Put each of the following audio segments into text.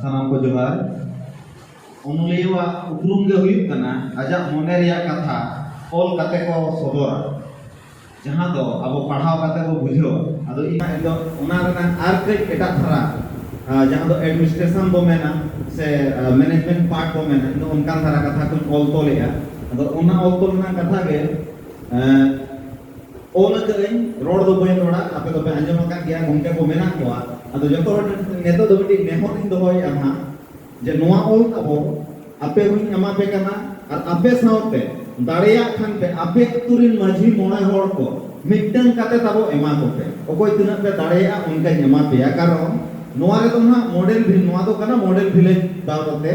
ᱥᱟᱱᱟᱢ ᱠᱚ ᱡᱚᱦᱟᱨ ᱚᱱᱚᱞᱤᱭᱟᱹᱣᱟᱜ ᱩᱯᱨᱩᱢ ᱜᱮ ᱦᱩᱭᱩᱜ ᱠᱟᱱᱟ ᱟᱡᱟᱜ ᱢᱚᱱᱮ ᱨᱮᱭᱟᱜ ᱠᱟᱛᱷᱟ ᱚᱞ ᱠᱟᱛᱮ ᱠᱚ ᱥᱚᱫᱚᱨᱟ ᱡᱟᱦᱟᱸ ᱫᱚ ᱟᱵᱚ ᱯᱟᱲᱦᱟᱣ ᱠᱟᱛᱮ ᱵᱚ ᱵᱩᱡᱷᱟᱹᱣᱟ ᱟᱫᱚ ᱤᱧ ᱫᱚ ᱚᱱᱟ ᱨᱮᱱᱟᱜ ᱟᱨ ᱠᱟᱹᱡ ᱮᱴᱟᱜ ᱫᱷᱟᱨᱟ ᱡᱟᱦᱟᱸ ᱫᱚ ᱮᱰᱢᱤᱱᱤᱥᱴᱨᱮᱥᱚᱱ ᱵᱚ ᱢᱮᱱᱟ ᱥᱮ ᱢᱮᱱᱮᱡᱢᱮᱱᱴ ᱯᱟᱨᱴ ᱵᱚ ᱢᱮᱱᱟ ᱤᱧ ᱫᱚ ᱚᱱᱠᱟᱱ ᱫᱷᱟᱨᱟ ᱠᱟᱛᱷᱟ ᱠᱚᱧ ᱚᱞ ᱛᱚᱞᱮᱜᱼᱟ ᱟᱫᱚ ᱚᱱᱟ ᱚᱞ ᱛᱚᱞ ᱨᱮᱱᱟᱜ ᱠᱟᱛᱷᱟ ᱜᱮ ᱚᱞ ᱟᱠᱟᱫᱟᱹᱧ ᱨᱚᱲ ᱫᱚ ᱵᱟᱹᱧ ᱨᱚᱲᱟ ᱟᱯᱮ ᱫᱚᱯᱮ ᱟᱸᱡᱚᱢ ᱟᱠᱟᱫ ᱜᱮᱭᱟ ᱜᱚᱢᱠᱮ ᱠᱚ ᱢᱮᱱᱟᱜ ᱠᱚᱣᱟ ᱟᱫᱚ ᱡᱚᱛᱚ ᱦᱚᱲ ᱱᱤᱛᱚᱜ ᱫᱚ ᱢᱤᱫᱴᱤᱡ ᱱᱮᱦᱚᱨ ᱤᱧ ᱫᱚᱦᱚᱭᱮᱫᱼᱟ ᱱᱟᱦᱟᱜ ᱡᱮ ᱱᱚᱣᱟ ᱚᱞ ᱛᱟᱵᱚᱱ ᱟᱯᱮ ᱦᱚᱧ ᱮᱢᱟ ᱯᱮ ᱠᱟᱱᱟ ᱟᱨ ᱟᱯᱮ ᱥᱟᱶᱛᱮ ᱫᱟᱲᱮᱭᱟᱜ ᱠᱷᱟᱱ ᱯᱮ ᱟᱯᱮ ᱟᱹᱛᱩ ᱨᱤᱱ ᱢᱟᱹᱡᱷᱤ ᱢᱚᱬᱮ ᱦᱚᱲ ᱠᱚ ᱢᱤᱫᱴᱟᱝ ᱠᱟᱛᱮ ᱛᱟᱵᱚ ᱮᱢᱟ ᱠᱚᱯᱮ ᱚᱠᱚᱭ ᱛᱤᱱᱟᱹᱜ ᱯᱮ ᱫᱟᱲᱮᱭᱟᱜᱼᱟ ᱚᱱᱠᱟᱧ ᱮᱢᱟ ᱯᱮᱭᱟ ᱠᱟᱨᱚᱱ ᱱᱚᱣᱟ ᱨᱮᱫᱚ ᱱᱟᱦᱟᱜ ᱢᱚᱰᱮᱞ ᱱᱚᱣᱟ ᱫᱚ ᱠᱟᱱᱟ ᱢᱚᱰᱮᱞ ᱵᱷᱤᱞᱮᱡᱽ ᱵᱟᱵᱚᱛᱮ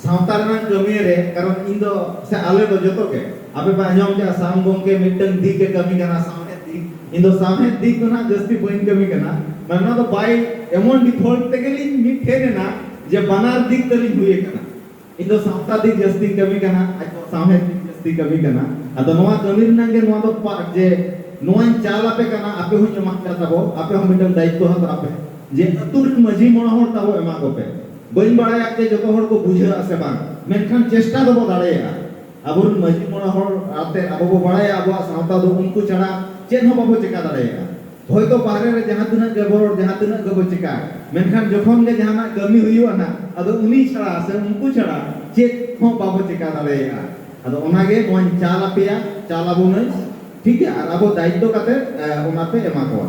ᱥᱟᱶᱛᱟ ᱨᱮᱱᱟᱝ ᱠᱟᱹᱢᱤᱭᱮ ᱨᱮ ᱠᱟᱨᱚᱱ ᱤᱧ ᱫᱚ ᱥᱮ ᱟᱞᱮ ᱫᱚ ᱡᱚᱛᱚ ᱜᱮ ᱟᱯᱮ ᱯᱮ ᱟᱸᱡᱚᱢ ᱠᱮᱫᱼᱟ ᱥᱟᱢ ᱜᱚᱢᱠᱮ ᱢᱤᱫᱴᱟᱝ ᱫᱤᱠ ᱮ ᱠᱟᱹᱢᱤ ᱠᱟᱱᱟ ᱥᱟᱶᱦᱮᱫ ᱫᱤᱠ ᱤᱧ ᱫᱚ ᱥᱟᱶᱦᱮᱫ ᱫᱤᱠ ᱫᱚ ᱱᱟᱦᱟᱜ ᱡᱟᱹᱥᱛᱤ ᱵᱟᱹᱧ ᱠᱟᱹᱢᱤ ᱠᱟᱱᱟ ᱢᱟᱱᱮ ᱱᱚᱣᱟ ᱫᱚ ᱵᱟᱭ ᱮᱢᱚᱱ ᱰᱤᱯᱷᱚᱞᱴ ᱛᱮᱜᱮ ᱞᱤᱧ ᱢᱤᱫ ᱴᱷᱮᱱ ᱮᱱᱟ ᱡᱮ ᱵᱟᱱᱟᱨ ᱫᱤᱠ ᱛᱮᱞᱤᱧ ᱦᱩᱭ ᱟᱠᱟᱱᱟ ᱤᱧ ᱫᱚ ᱥᱟᱶᱛᱟ ᱫᱤᱠ ᱡᱟᱹᱥᱛᱤᱧ ᱠᱟᱹᱢᱤ ᱠᱟᱱᱟ ᱟᱡ ᱫᱚ ᱥᱟᱶᱦᱮᱫ ᱫᱤᱠ ᱡᱟᱹᱥᱛᱤ ᱠᱟᱹᱢᱤ ᱠᱟᱱᱟ ᱟᱫᱚ ᱱᱚᱣᱟ ᱠᱟᱹᱢᱤ ᱨᱮᱱᱟᱜ ᱜᱮ ᱱᱚᱣᱟ ᱫᱚ ᱯᱟᱨᱴ ᱡᱮ ᱱᱚᱣᱟᱧ ᱪᱟᱞ ᱟᱯᱮ ᱠᱟᱱᱟ ᱟᱯᱮ ᱦᱚᱸᱧ ᱮᱢᱟᱫ ᱯᱮᱭᱟ ᱛᱟᱵᱚ ᱟᱯᱮ ᱦᱚᱸ ᱢᱤᱫᱴᱟᱝ ᱫᱟᱭᱤᱛᱛᱚ ᱦᱟᱛᱟᱣ ᱯᱮ ᱡᱮ ᱟᱹᱛᱩ ᱨᱮᱱ ᱢᱟᱹᱡᱷᱤ ᱢᱚᱬᱮ ᱦᱚᱲ ᱛᱟᱵᱚ ᱮᱢᱟ ᱠᱚᱯᱮ ᱵᱟᱹᱧ ᱵᱟᱲᱟᱭᱟ ᱡᱮ ᱡᱚᱛᱚ ᱦᱚᱲ ᱠᱚ ᱵᱩᱡᱷᱟᱹᱜᱼᱟ ᱥᱮ ᱵᱟᱝ, ᱢᱮᱱᱠᱷᱟᱱ ᱪᱮᱥᱴᱟ ᱫᱚᱵᱚ ᱫᱟᱲᱮᱭᱟᱜᱼᱟ᱾ ᱟᱵᱚ ᱨᱮᱱ ᱢᱟᱹᱡᱷᱤ ᱢᱚᱬᱮ ᱦᱚᱲ ᱟᱛᱮ ᱟᱵᱚ ᱵᱚ ᱵᱟᱲᱟᱭᱟ ᱟᱵᱚᱣᱟᱜ ᱥᱟᱶᱛᱟ ᱫᱚ ᱩᱱᱠᱩ ᱪᱷᱟᱲᱟ ᱪᱮᱫ ᱦᱚᱸ ᱵᱟᱵᱚ ᱪᱮᱠᱟ ᱫᱟᱲᱮᱭᱟᱜᱼᱟ᱾ ᱦᱚᱭᱛᱚ ᱵᱟᱦᱨᱮ ᱨᱮ ᱡᱟᱦᱟᱸ ᱛᱤᱱᱟᱹᱜ ᱜᱮᱵᱚ ᱨᱚᱲ, ᱡᱟᱦᱟᱸ ᱛᱤᱱᱟᱹᱜ ᱜᱮᱵᱚ ᱪᱮᱠᱟ, ᱢᱮᱱᱠᱷᱟᱱ ᱡᱚᱠᱷᱚᱱ ᱜᱮ ᱡᱟᱦᱟᱱᱟᱜ ᱠᱟᱹᱢᱤ ᱦᱩᱭᱩᱜᱼᱟ ᱱᱟᱜ ᱟᱫᱚ ᱩᱱᱤ ᱪᱷᱟᱲᱟ ᱥᱮ ᱩᱱᱠᱩ ᱪᱷᱟᱲᱟ ᱪᱮᱫ ᱦᱚᱸ ᱵᱟᱵᱚ ᱪᱮᱠᱟ ᱫᱟᱲᱮᱭᱟᱜᱼᱟ᱾ ᱟᱫᱚ ᱚᱱᱟ ᱜᱮ ᱱᱚᱣᱟᱧ ᱪᱟᱞ ᱟᱯᱮᱭᱟ, ᱪᱟᱞ ᱟᱵᱚᱱᱟᱹᱧ᱾ ᱴᱷᱤᱠ ᱜᱮᱭᱟ ᱟᱨ ᱟᱵᱚ ᱫᱟᱭᱤᱛᱛᱚ ᱠᱟᱛᱮ ᱚᱱᱟ ᱯᱮ ᱮᱢᱟ ᱠᱚᱣᱟ᱾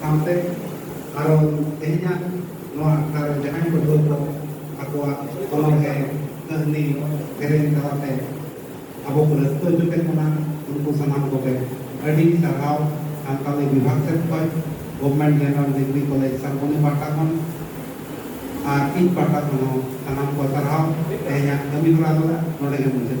ᱥᱟᱶᱛᱮ ᱟᱨᱚ ᱛᱮᱦᱮᱧᱟᱜ ᱱᱚᱣᱟ ᱟᱠᱷᱲᱟ ᱨᱮ ᱡᱟᱦᱟᱸᱭ ᱯᱟᱹᱴᱷᱩᱣᱟᱹ ᱠᱚ ᱟᱠᱚᱣᱟᱜ ᱚᱱᱚᱬᱦᱮ ᱠᱟᱹᱦᱱᱤ ᱥᱮᱨᱮᱧ ᱛᱟᱞᱟᱛᱮ ᱟᱵᱚ ᱠᱚ ᱨᱟᱹᱥᱠᱟᱹ ᱦᱚᱪᱚ ᱠᱮᱫ ᱵᱚᱱᱟ ᱩᱱᱠᱩ ᱥᱟᱱᱟᱢ ᱠᱚᱜᱮ ᱟᱹᱰᱤ ᱥᱟᱨᱦᱟᱣ ᱥᱟᱱᱛᱟᱲᱤ ᱵᱤᱵᱷᱟᱜᱽ ᱥᱮᱫ ᱠᱷᱚᱱ ᱜᱚᱵᱷᱢᱮᱱᱴ ᱡᱮᱱᱟᱨᱮᱞ ᱰᱤᱜᱽᱨᱤ ᱠᱚᱞᱮᱡᱽ ᱥᱟᱨᱵᱚᱱᱤ ᱯᱟᱦᱴᱟ ᱠᱷᱚᱱ ᱟᱨ ᱤᱧ ᱯᱟᱦᱴᱟ ᱠᱷᱚᱱ ᱦᱚᱸ ᱥᱟᱱᱟᱢ ᱠᱚ ᱥᱟᱨᱦᱟᱣ ᱛᱮᱦᱮᱧᱟᱜ ᱠᱟᱹᱢᱤ ᱦᱚᱨᱟ ᱫᱚ ᱱᱚᱰᱮ ᱜᱮ ᱢᱩᱪᱟᱹᱫ